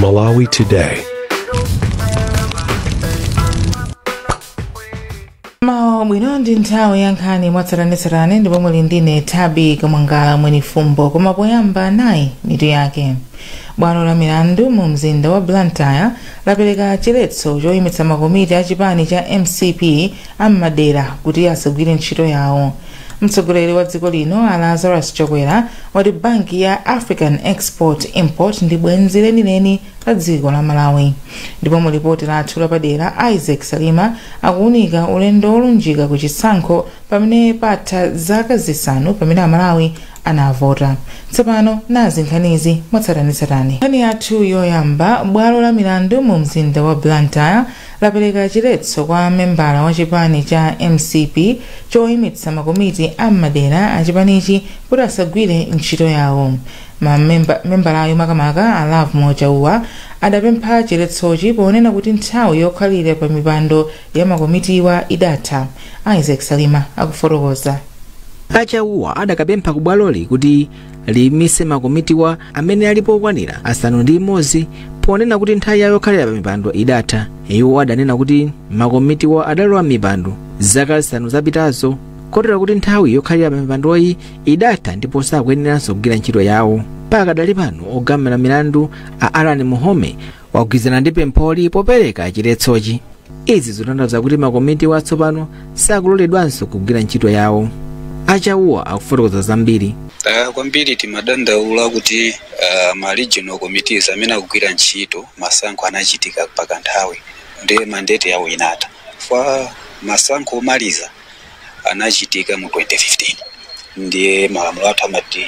Malawi Today. mwawa bwino ndi nthawi ya nkhani mwatsatanetsatane ndipo muli ndine thabi kamwangala mwenifumbo koma poyamba nayi mitu yake bwalo la milandu mu mzinda wa blantyre lapereka chiletso choyimitsa makomiti a chipani cha mcp am'madera kuti asagwire ntchito yawo mtsogoleri wa dziko lino a lazarus chakwera wati banki ya african export import ndi bwenzi lenileni la dziko la malawi ndipo mu lipoti lathu lapadera isaac salima akuwunika ulendo wolunjika ku chisankho pamene patha zaka zisanu pamene amalawi anavota tsopano nazi nkhanizi mwatsatanetsatane nkhani yathu yoyamba bwalo la milandu mu mzinda wa blantyre lapereka chiletso kwa membala wa chipani cha mcp choyimitsa makomiti a m'madera a chipanichi kuti asagwire ntchito yawo mamemba membalayo makamaka a lovemore chauwa adapempha chiletsochi ponena kuti nthawi yokhalira pa mipando ya makomitiwa idatha isaac salima akufotokoza a chauwa adakapempha ku bwaloli kuti liyimitse makomitiwa amene alipo okwanira asanu ndi imodzi ponena kuti nthawi yawo yokhalira pa mipando idatha iwo adanena kuti makomitiwa adalowa m'mipando zaka zisanu zapitazo kotero kuti nthawi yokhalira pa mipandoyi idatha ndipo sakuyeneranso kugwira ntchito yawo pakadali pano ogamula milandu a alan muhome wagwirizana ndi pempholi popereka chiletsochi izi zikutanthauza kuti makomitiwa tsopano sakuloledwanso kugwira ntchito yawo a chauwa akufotokoza zambiri Ah, kwambiri timadandaula kuti ah, ma regional committees amene akugwira ntchito masankho anachitika pakanthawi ndiye mandate yawo inatha kwa masankho omaliza anachitika mu 2015 ndiye malamulo athu amati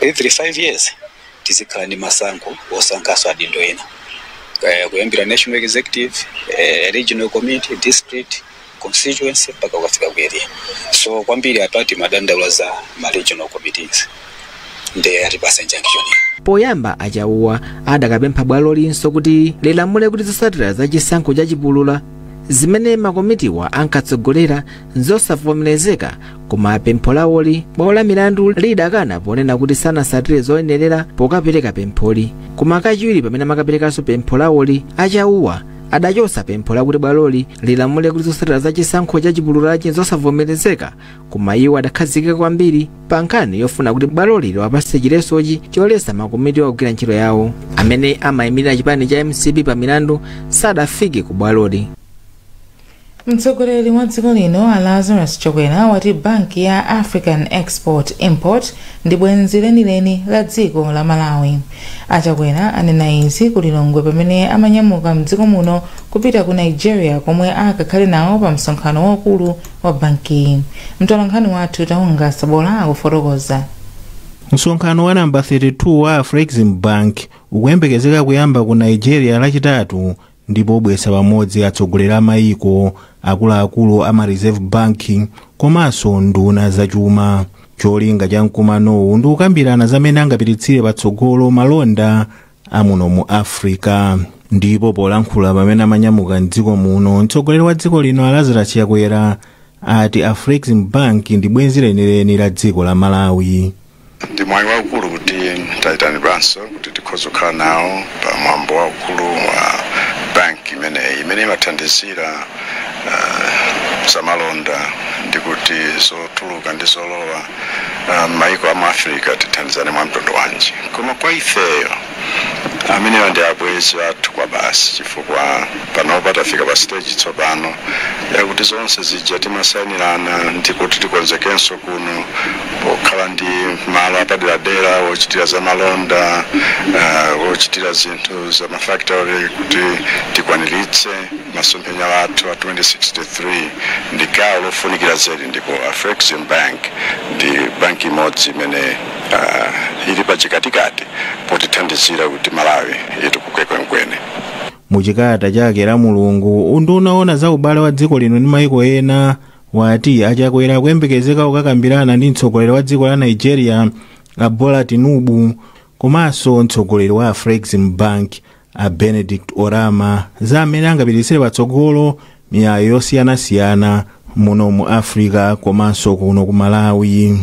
every 5 years tizikhala ndi masankho osankhaso adindo ena eh, kuyambira national executive eh, regional committee district constituency mpaka ukafika ku area so kwambiri apa timadandaula za ma regional committees nde atipasa injunction poyamba a chauwa adakapempha bwalolinso kuti lilamule kuti zosatira za chisankho cha chipulula zimene makomitiwa ankatsogolera nzosavomerezeka koma pempho lawoli bwalo la milandu lidakana ponena kuti sanasatire zoyenerera pokapereka pempholi koma kachiwiri pamene amakaperekanso pempho lawoli a chauwa adachotsa pempho lakuti bwaloli lilamule kuti zosatira za chisankho cha chipululachi nzosavomerezeka koma iwo adakhazikika kwambiri pa nkhani yofuna kuti bwaloli liwapatse chiletsochi choletsa makomitiwa kugwira ntchito yawo amene amayimirira chipani cha mcp pa milandu sadafike ku bwaloli mtsogoleri wa dziko lino a lazarus chakwera wati banki ya african export import ndi bwenzi lenileni la dziko la malawi a chakwera anena izi ku lilongwe pamene amanyamuka m'dziko muno kupita ku nigeria komwe akakhale nawo pa msonkhano waukulu wa bankiyi mtolankhani wathu taunga sabola akufotokoza msonkhano wa nambala 32 wa afrexim bank ukuyembekezeka kuyamba ku nigeria lachitatu ndipo ubweretsa pamodzi atsogoleri a mayiko akuluakulu a ma reserve bank komanso nduna zachuma cholinga cha mkumanowu ndi kukambirana za mmene angapititsire patsogolo malonda amuno mu africa ndipo polankhula pamene amanyamuka m'dziko muno mtsogoleri wa dziko lino a lazarus chakwera ati afrexim bank ndi bwenzi lenileni la dziko la malawi ndi mwayi waukulu kuti tayitanidwanso kuti tikhoza kukhala nawo pa mwambo waukulu wa banki imeneyi imene imathandizira uh, zamalonda ndi kuti zotuluka ndi zolowa ah, mmaiko a mu africa tithandizane mwa mtundu wanji koma kwa ifeyo amenewa ndi abwenzi athu kwa basi chifukwa panopa tafika pa stage tsopano yakuti zonse zija timasainirana ndi kuti tikonzekenso kuno pokhala ndi malo apaderadera wochitira za malonda ah, wochitira zinthu za mafactory kuti tikwaniritse Masomphenya athu a 2063 ndi gawo lofunikira zedi ndipo Afrexim Bank ndi banki imodzi imene uh, ili pachikatikati potithandizira kuti Malawi itukuke kwenikweni. Mu chikalata chake Lamulungu, unduna woona za ubale wa dziko lino ndi maiko ena wati a Chakwera akuyembekezeka kukakambirana ndi mtsogoleri wa dziko la Nigeria a Bola Tinubu komanso mtsogoleri wa Afrexim Bank a benedict oramah za mmene angapititsire patsogolo miyayi yosiyanasiyana muno mu africa komanso kuno ku malawi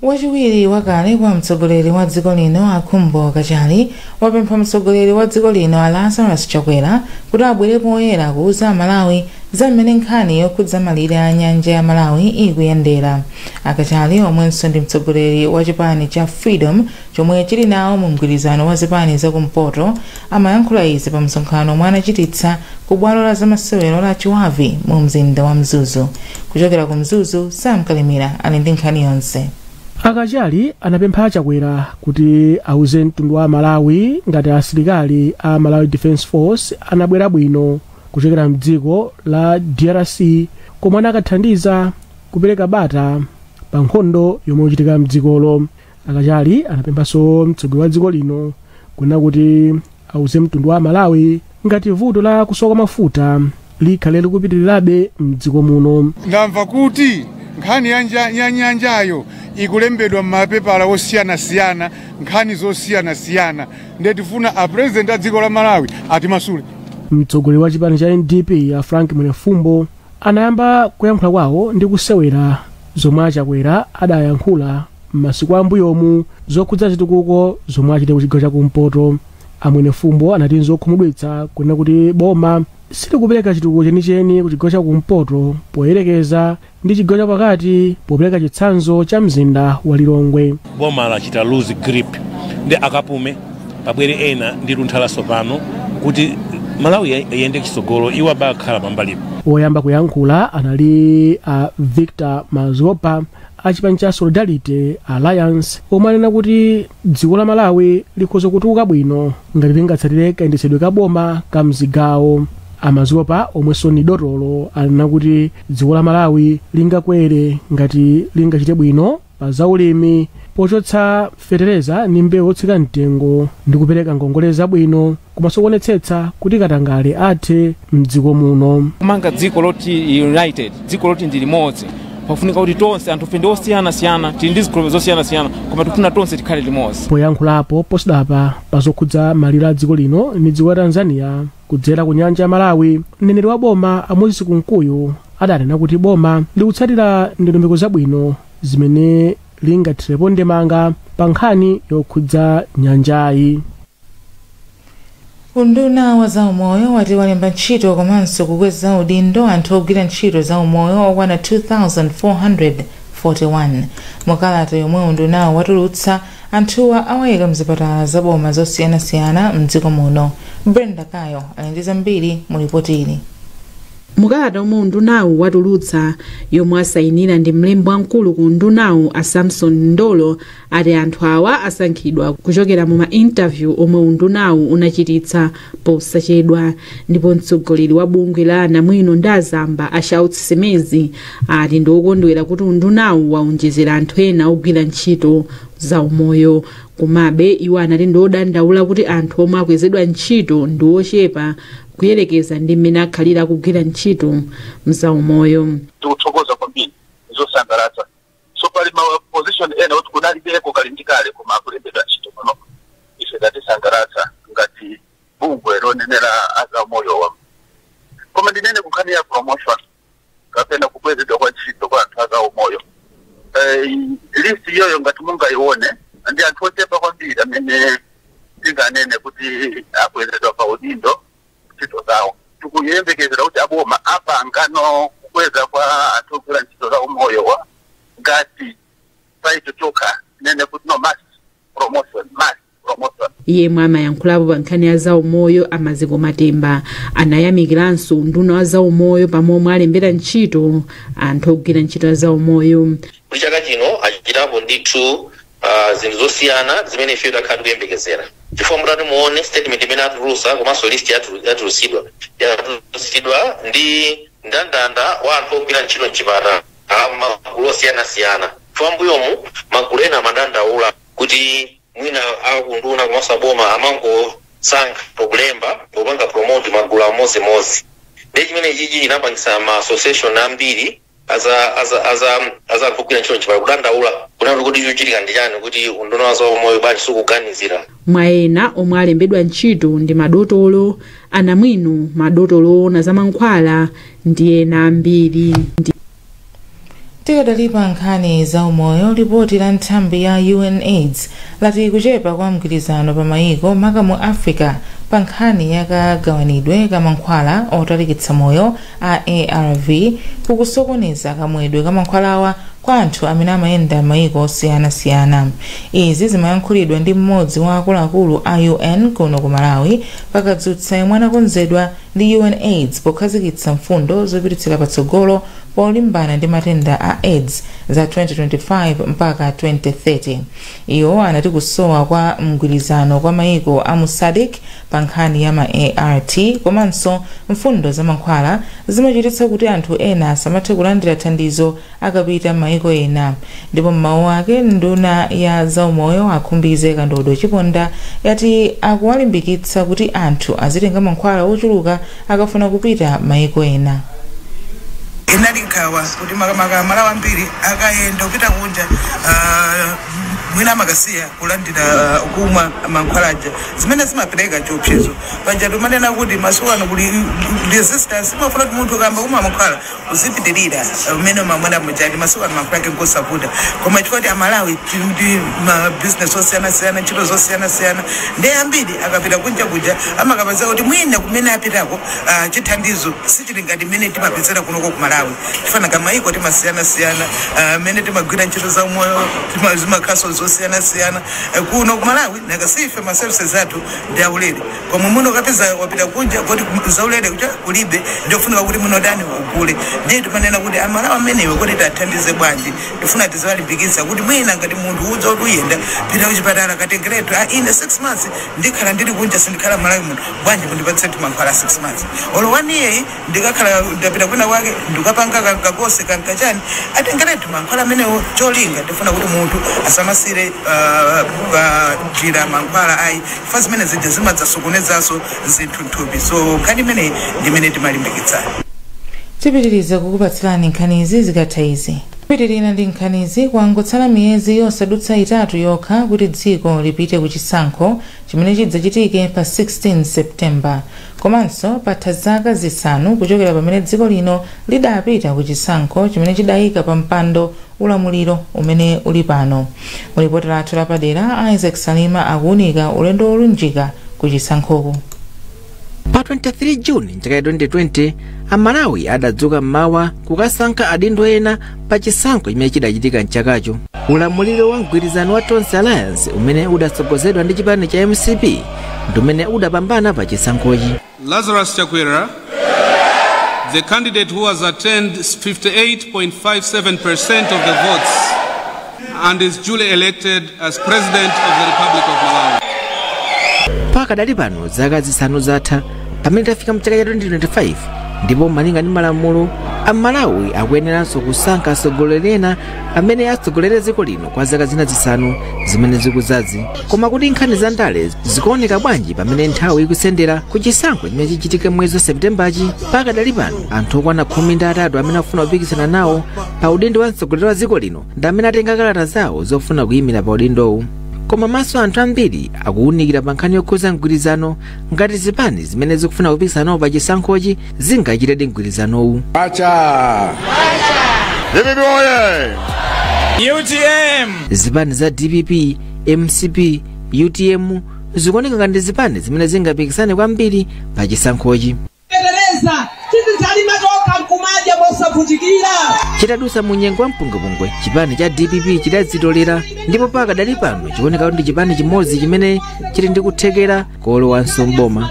wachiwiri wakale kwa mtsogoleri wa dziko lino a khumbo kachali wapempha mtsogoleri wa dziko lino a lazarus chakwera kuti abwere poyera kuuza amalawi za mmene nkhani yokhudza malire a nyanja ya malawi ikuyendera a kachali omwenso ndi mtsogoleri wa chipani cha freedom chomwe chili nawo mu mgwirizano wa zipani za kumpoto, amayankhula izi pa msonkhano omwe anachititsa ku bwalo la zamasewero la Chibavi mu mzinda wa Mzuzu. Kuchokera ku Mzuzu, Sam Kalimira ali ndi nkhani yonse. A Kachali anapempha a Chakwera kuti auze mtundu wa Malawi ngati asilikali a Malawi Defence Force anabwera bwino kuchokera mdziko la DRC komwe anakathandiza kupereka bata pa nkhondo yomwe ikuchitika mdzikolo. a kachali anapemphanso mtsogoleri wa dziko lino kunena kuti auze mtundu wa malawi ngati vuto la kusowa kwa mafuta likhale likupitirirabe mdziko muno ndamva kuti nkhani ya nyanjayo ikulembedwa m'mapepala osiyanasiyana nkhani zosiyanasiyana ndiye tifuna a president a dziko la malawi atimasule mtsogoleri wa chipani cha ndp a frank mwenefumbo anayamba kuyankhula kwawo ndi kusewera zomwe achakwera adayankhula M'masiku ambuyomu zokhudza zitukuko zomwe achite kuchigawo chakumpoto a Mwenefumbo anati nzokhumudwitsa kunena kuti boma silikupereka chitukuko chenicheni kuchigawo chakumpoto poyerekeza ndi chigawo chapakati popereka chitsanzo cha mzinda wa Lilongwe. Boma lachita lose grip nde akapume pabwere ena ndi luntha latsopano kuti Malawi iyende chitsogolo iwo abakhala pambalipo. Woyamba kuyankhula anali a Victor Mazopa a chipani cha solidarity alliance omwe anena kuti dziko la malawi likhoza kutukuka bwino ngati lingatsatire kayendetsedwe ka boma ka mzigawo amazopa omwenso ni dotolo anena kuti dziko la malawi lingakwere ngati lingachite bwino pa zaulimi pochotsa fetereza ndi mbewu otsika mtengo ndi kupereka ngongole zabwino komanso kuonetsetsa kuti katangale athe m'dziko muno. kumanga dziko loti united dziko loti ndi limodzi pafunika kuti tonse anthufe ndi osiyanasiyana tili ndi zikhulupiriro zosiyanasiyana koma tikufuna tonse tikhale limodzi poyankhulapo posachedwapa pa zokhudza malire a dziko lino ndi dziko la tanzania kudzera ku nyanja ya malawi mneneri wa boma a moses kunkuyu adanena kuti boma likutsatira ndondomeko zabwino zimene lingathirepo ndemanga pa nkhani yokhudza nyanjayi unduna wa zaumoyo wati walemba ntchito komanso kukweza udindo anthu ogwira ntchito zaumoyo okwana 2441 mukalata yomwe undunawu watulutsa anthuwa awayika mzipatala za boma zosiyanasiyana mdziko muno brenda kayo ali ndi zambiri mu lipoti ili mukalata omwe undunawu watulutsa yomwe asayinira ndi mlembi wamkulu ku undunawu a samson ndolo ati anthu awa asankhidwa kuchokera mu ma interview omwe undunawu unachititsa posachedwa ndipo mtsogoleri wa bungwe la anamwino ndi azamba a shouts simeza ati ndi okondwera kuti undunawu waonjezera anthu ena ogwira ntchito za umoyo komabe iwo anati ndi odandaula kuti anthu omwe akwezedwa ntchito ndi ochepa kuyerekeza ndi mmene akhalira akugwira ntchito mzaumoyo tikuthokoza kwambiri zosangalatsa so pali ma position ena kuti kunalibeko kali ndi kale koma akulembedwa ntchito pano ife zatisangalatsa ngati bungwe lonenera azaumoyowa koma ndinene kunkhani ya promotion kapena kukwezedwa kwa ntchito kwa anthu azaumoyo eh, list iyoyo ngati mungayione ndi anthu ochepa kwambiri amene tinganene kuti akwezedwa pa udindo ntchito zawo. Tikuyembekezera kuti aboma apangano kukweza kwa anthu ogwira ntchito za umoyowa ngati pa icho chokha tinene kuti no mass promotion, mass promotion. yemwe amayankhulapo pa nkhani ya zaumoyo a maziko matemba anayamikiranso unduna wa zaumoyo pa momwe alembera ntchito anthu ogwira ntchito za umoyo kuti chaka chino achitapo ndithu pa zinthu zosiyana zimene ifeyo takhala tikuyembekezera chifukwa mutati muone statement imene atulusa komanso list yatulu yatulusidwa yatulusidwa ndi ndandanda wa anthu ogwira ntchito mchipatala mmagulu osiyanasiyana chifukwa mmbuyomu magulu ena amadandaula kuti mwina a unduna komanso a boma amangosankha kulemba kupanga promote magulu amodzimodzi ndiye chimenechichi chinapangisa ma association ambiri aza aza aza aza anthu ogwira ntchito mchipatala kudandaula kunena kuti kodi chochitika ndi chani kuti unduna wa zaumoyo bwanji sukuganizira mwa ena omwe alembedwa ntchito ndi madotolo anamwino madotolo oona za mankhwala ndi ena ambiri ndi tikadali pa nkhani za umoyo lipoti la nthambi ya unaids lati kuchepa kwa mgwirizano pa mayiko maka mu africa pa nkhani yakagawanidwe ka mankhwala otalikitsa moyo a arv kukusokoneza kamwedwe ka mankhwalawa kwa anthu amene amayenda mayiko osiyanasiyana izi zimayankhulidwa ndi mmodzi wa akuluakulu a un kuno ku malawi pakadzutsa yemwe anakonzedwa ndi unaids pokhazikitsa mfundo zopititsira patsogolo polimbana ndi matenda a aids za 2025 mpaka 2030 iwo anati kusowa kwa mgwirizano kwa mayiko a mu sadc pa nkhani ya ma art komanso mfundo za mankhwala zimachititsa kuti anthu ena asamathe kulandira thandizo akapita m'mayiko ena ndipo m'mawu ake nduna ya zaumoyo a khumbize kandodo chiponda yati akuwalimbikitsa kuti anthu azitenga mankhwala ochuluka akafuna kupita mayiko ena inali nkhawa kuti makamaka amalawi ambiri akayenda kupita kunja ah, mwina amakasiya kulandira ah, kumwa mankhwala aja zimene zimapereka chiopsezo paja timanena kuti masiku ano kuli resistance imafuna kuti munthu ukayamba kumwa mankhwala uzipitirira mmene umamwera mujadi masiku ano mankhwala ake ngosavuta koma chifukwa kuti amalawi tili ndi ma business osiyanasiyana ntchito zosiyanasiyana ndi ambiri akapita kunja kuja amakapeza kuti mwina kumene apitako ah, chithandizo sichili ngati mmene timapezera kunoko ku malawi chifukwa nanga mayiko timasiyanasiyana ah, mmene timagwira ntchito za umoyo tima- zimakhaso zosiyanasiyana Eh, kuno ku malawi nanga si ife ma services athu ndi aulere koma mwina ukapeza wapita kunja koti zaulere kuja kulibe ndiofunika kuti mwina utani ugule ndiye timanena kuti amalawi amenewo kuti tiwathandize bwanji tifuna tiziwalimbikitsa kuti mwina ngati munthu ukudziwa kuti uyenda pita kuchipatala katengeretu a ine 6 months ndikhala ndili kunja sindikhala malawi muno bwanji mundipatsiretu mankhwala 6 months olo one year Ndikakhala ndapita kwina kwake ndikapanga ka ka course ka ka chani, atengeretu mankhwala amenewo cholinga tifuna kuti munthu asamasire ah, pa njira mankhwala ayi chifukwa zimene zija zimadzasokonezanso zinthu nthupi so nkhani imeneyi ndi imene timalimbikitsana tipitiriza kukupatsirani nkhanizi zikatha izi popitirira ndi nkhanizi kwangotsala miyezi yosadutsa itatu yokha kuti dziko lipite ku chisankho chimene chidzachitike pa 16 september Komanso patha zaka zisanu kuchokera pamene dziko lino lidapita ku chisankho chimene chidaika pa mpando ulamuliro umene uli pano. Mu lipoti lathu lapadera, Isaac Salima akuunika ulendo wolunjika ku chisankhoku. Pa 23 June m'chaka cha 2020, Amalawi adadzuka m'mawa kukasankha adindo ena pa chisankho chimene chidachitika mchakacho ulamuliro wa mgwirizano wa tonse alliance umene udatsogozedwa ndi chipani cha mcp ndi umene udapambana pa chisankhochi Lazarus Chakwera, the candidate who has attained 58.57% of the votes, and is duly elected as President of the Republic of Malawi. pakadali pano zaka zisanu zatha pamene tafika mchaka cha 2025 ndipo malinga ndi malamulo amalawi akuyeneranso kusankha atsogoleri ena amene atsogolere dziko lino kwa zaka zina zisanu zimene zikudzazi koma kuti nkhani za ndale zikuoneka bwanji pamene nthawi ikusendera ku chisankho chimene chichitike mwezi wa septembachi pakadali pano anthu okwana khumi ndi atatu amene akufuna kupikisana nawo pa udindo wa mtsogoleri wa dziko lino ndi amene atenga kalata zawo zofuna kuyimira pa udindowu koma maso anthu ambiri akuwunikira pa nkhani yokhuza mgwirizano ngati zipani zimene zikufuna kupikisana nawo pa chisankhochi zingachitedi mgwirizanowu Acha. Vivi oye. UTM. zipani za dpp mcp utm zikuoneka ngati zipani zimene zingapikisane kwambiri pa chisankhochi fetereza tizidzalima tokha nkumadya mosavutika chitadusa mu nyengo ya mpungwepungwe chipani cha dpp chidadzitolera ndipo pakadali pano chikuoneka kuti ndi chipani chimodzi chimene chili ndi kuthekera kolowanso mboma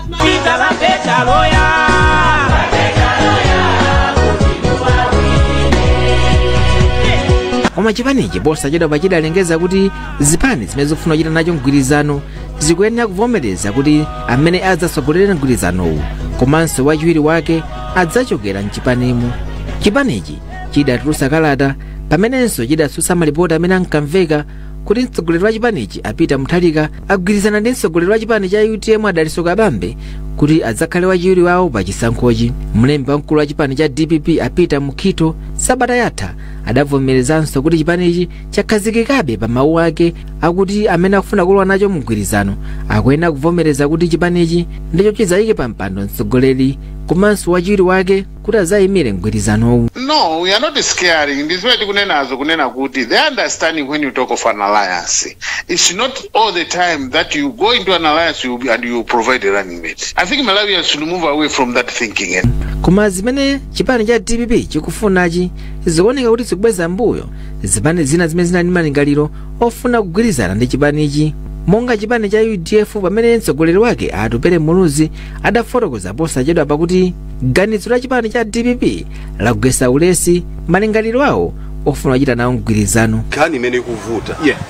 koma chipanichi posachedwapa chidalengeza kuti zipani zimene zikufuna kuchita nacho mgwirizano zikuyenera kuvomereza kuti amene adzatsogolera mgwirizanowu komanso wachiwiri wake adzachokera mchipanimu chipanichi chidatulutsa kalata pamenenso chidatsutsa malipoti amene ankamveka kuti mtsogoleri wa chipanichi a peter mutharika agwirizana ndi mtsogoleri wa chipani cha utm a dalitso kabambe kuti adzakhale wachiwiri wawo pa chisankhochi mlembi wamkulu wa chipani cha dpp a peter mukhito sabata yatha adavomerezanso kuti chipanichi chakhazikikabe pa mawu ake akuti amene akufuna kulowa nacho mgwirizano akuyenera kuvomereza kuti chipanichi ndicho chidzayike pa mpando mtsogoleri komanso wachiwiri wake kuti azayimire mgwirizanowu No, we are not scaring. That's why tikunena zo kunena kuti the understanding when you talk of an alliance, it's not all the time that you go into an alliance you, and you provide a running mate. I think Malawians should move away from that thinking. Eh? koma zimene chipani cha dpp chikufunachi zikuoneka kuti zikubweza mbuyo zipani zina zimene zinali ndi malingaliro ofuna kugwirizana ndi chipanichi monga chipani cha udf pamene mtsogoleri wake atupele muluzi adafotokoza posachedwapa kuti ganizo la chipani cha dpp lagwesa ulesi malingaliro awo ofuna kuchita nawo mgwirizano nkhani imene ikuvuta Yeah.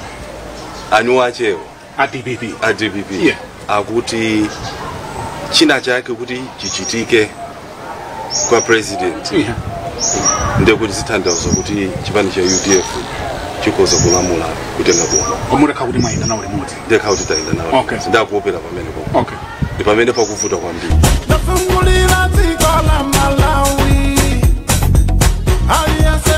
anzathuwo a dpp a dpp Yeah. atati china chake atati chichitike kwa president Yeah. ndekuti zitanthauza kuti chipani cha udf chikoza kulamula kutenga boma omuleka kuti mwayenda nawo limodzi ndekha kuti tayenda nawo Okay. nde akuopera pamenepo okay ndi pamene pakuvuta kwambiri Nafungulira dziko la Malawi. Aliyense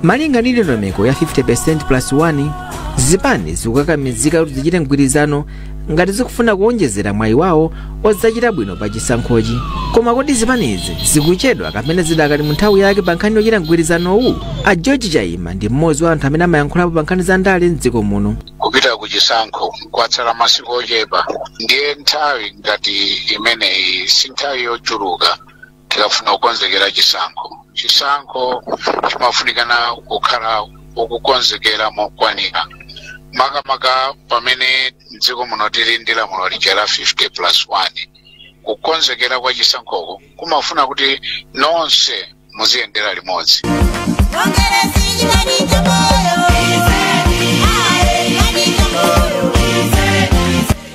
malinga ndi ndondomeko ya 50% plus 1 zipani zikukakamizika kuti zichite mgwirizano ngati zikufuna kuonjezera mwayi wawo odzachita bwino pa chisankhochi koma kodi zipanizi zikuchedwa kapena zidakali mu nthawi yake pa nkhani yochita mgwirizanowu a george chaima ndi mmodzi wa anthu amene amayankhulapo pa nkhani za ndale mdziko muno kupita ku chisankho kwatsala masiku ochepa ndiye nthawi ngati imeneyi si nthawi yochuluka tikafuna kukonzekera chisankho chisankho chimafunikana kukhala okonzekera mokwanira makamaka pamene mdziko muno tili ndi lamulo lija la 50 plus 1 kukonzekera kwa chisankhoko kumafuna kuti nonse muziyendera limodzi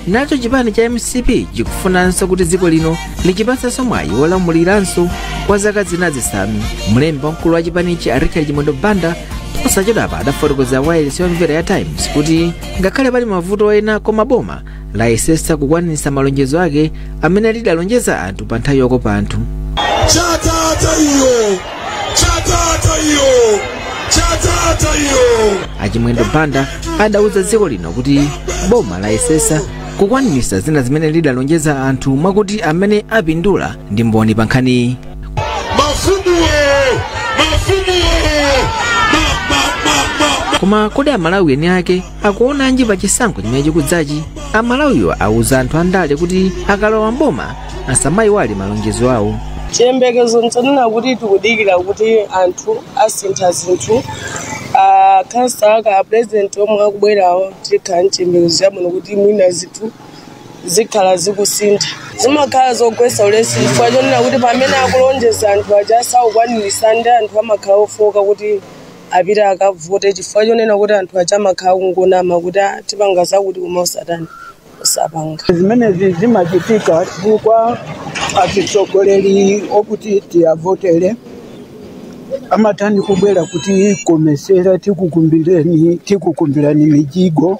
nacho chipani cha mcp chikufunanso kuti dziko lino lichipatsanso mwayi wolamuliranso kwa zaka zina zisanu mlembi wamkulu wa chipanichi a richard chimwendo banda posachedwapa adafotokozera wailesi yomvera ya times kuti ngakhale pali mavuto ena koma boma layesetsa kukwanitsa malonjezo ake amene lidalonjeza anthu pa nthawi yokopa anthu chatata iyo Chatata iyo! Chatata iyo! achimwendo banda adauza dziko lino kuti boma layesesa kukwanitsa zina zimene lidalonjeza anthu mwakuti amene apindula ndi mboni pa nkhaniyi Mafumuwo! Mafumuwo! Ma, ma, ma, ma, ma. koma kodi amalawi eni ake akuonanji pa chisankho chimene chikudzachi amalawiwo auza anthu andale kuti akalowa mboma asamayiwale malonjezo awo chiyembekezo nchonena kuti tikudikira kuti anthu asintha zinthu akhansala apurezidenti omwe akubwerawo tikhala ndi chiyembekezo chabwino kuti mwina zinthu zikhala zikusintha zimakhala zogwetsa ulesi chifukwa chonena kuti pamene akulonjeza anthu aja sakukwanirisa ndi anthu amakhala ofooka kuti apite akavote chifukwa chonena kuti anthu aja amakhala kungonama kuti "Ah, tipanga zakuti koma osatani osapanga zimenezi zimachitika chifukwa atsogoleri okuti tiwavotere amatani kubwera kutikomesera tikukumbirani mijigo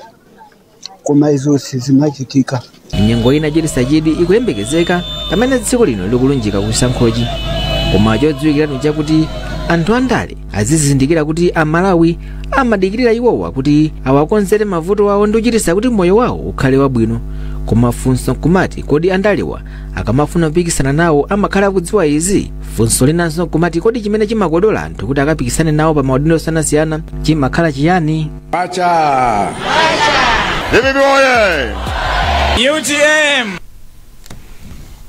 koma izo sizimachitika nyengo yochititsa chidwi ikuyembekezeka pamene dziko lino likulunjika ku chisankhochi koma chodziwikiratu chakuti anthu andale azizindikira kuti amalawi amadikirira iwowa kuti awakonzere mavuto awo ndi kuchititsa kuti moyo wawo ukhale wabwino koma funso nkumati kodi andalewa akamafuna kupikisana nawo amakhala akudziwa izi funso linanso nkumati kodi chimene chimakodola anthu kuti akapikisane nawo pa maudindo osiyanasiyana chimakhala chiyani Pacha! Vivi oye! UTM!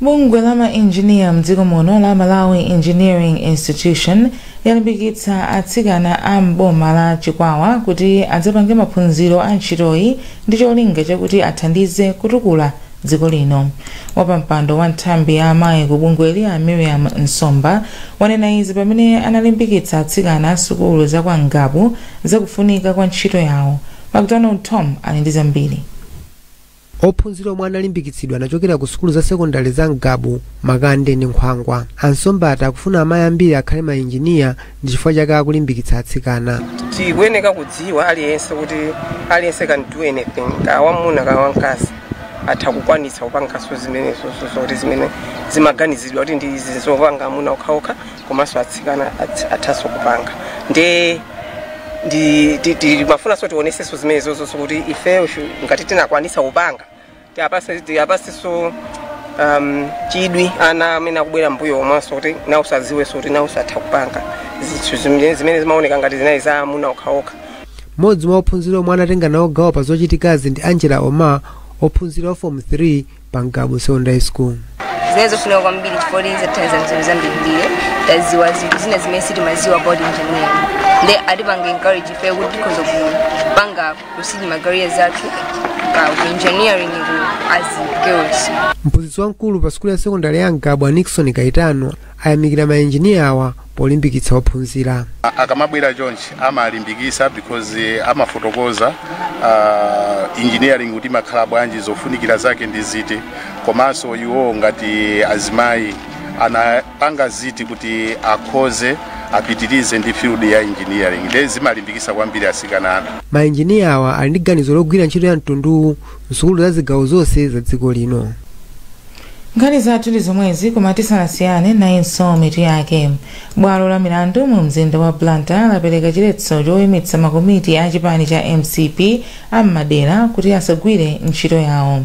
bungwe la mainjiniya mdziko muno la malawi engineering institution yalimbikitsa atsikana a m'boma la chikwawa kuti adzapange maphunziro a ntchitoyi ndi cholinga chakuti athandize kutukula dziko lino wapampando wa nthambi ya amayi ku bungweli a miriam nsomba wanena izi pamene analimbikitsa atsikana a sukulu za kwa ngabu zakufunika kwa ntchito yawo macdonald tom ali ndi zambiri ophunzira omwe analimbikitsidwa anachokera ku sukulu za sekondale za ngabu makande ndi nkhwangwa ansomba ati akufuna amayi ambiri akhale mainjiniya ndi chifukwa chake akulimbikitsa atsikana tikuyeneka kudziwa aliyense kuti aliyense can do anything kaya wamuna kaya wamkazi atha kukwanitsa kupanganso zimenezo zoti zimene zimaganizidwa kuti ndi zopanga amuna okhaokha komanso atsikana atsi- athanso kupanga nde ndi ti- ti- timafunanso tionesenso zimenezozo kuti ifeyo shu- ngati tinakwanitsa kupanga Tiwapase tiwapaseso um, chidwi ana amene akubwera mbuyo omwenso kuti nawoso adziwenso kuti nawoso atha kupanga zinthu zimene zimene zimaoneka ngati zinali za amuna okhaokha mmodzi mwa ophunzira omwe anatenga nawo gawo pa zochitikazi ndi angela omar ophunzira wa form 3 pa ngabu secondary school zinali zofunika kwambiri chifukwa zatithandiza mzinthu zambirimbiri taziwa zinthu zina zimene sitimaziwa about engineering nde atipanga encourage ife kuti tikhoza kupanga kusing'a ma career athu pa engineering ku as girls mphunzitsi wamkulu pa sukulu ya sekondari ya ngabu a nixon kaitano ayamikira maenjiniya awa polimbikitsa ophunzira A- akamabwera chonchi amalimbikisa because eh, amafotokoza uh, engineering kuti imakhala bwanji zofunikira zake ndi ziti komanso iwo ngati azimayi ana panga ziti kuti akhoze apitirize ndi field ya engineering ndiye zimalimbikisa kwambiri asikana athu mainjiniya awa ali ndi ganizo logwira ntchito ya mtunduwu msukulu za zigawo zonse za dziko lino nkhani zathu ndi zomwezi koma tisanasiyane nayinso mitu yake bwalo la milandu mu mzinda wa blantyre lapereka chiletso choyimitsa makomiti a chipani cha mcp a m'madera kuti asagwire ntchito yawo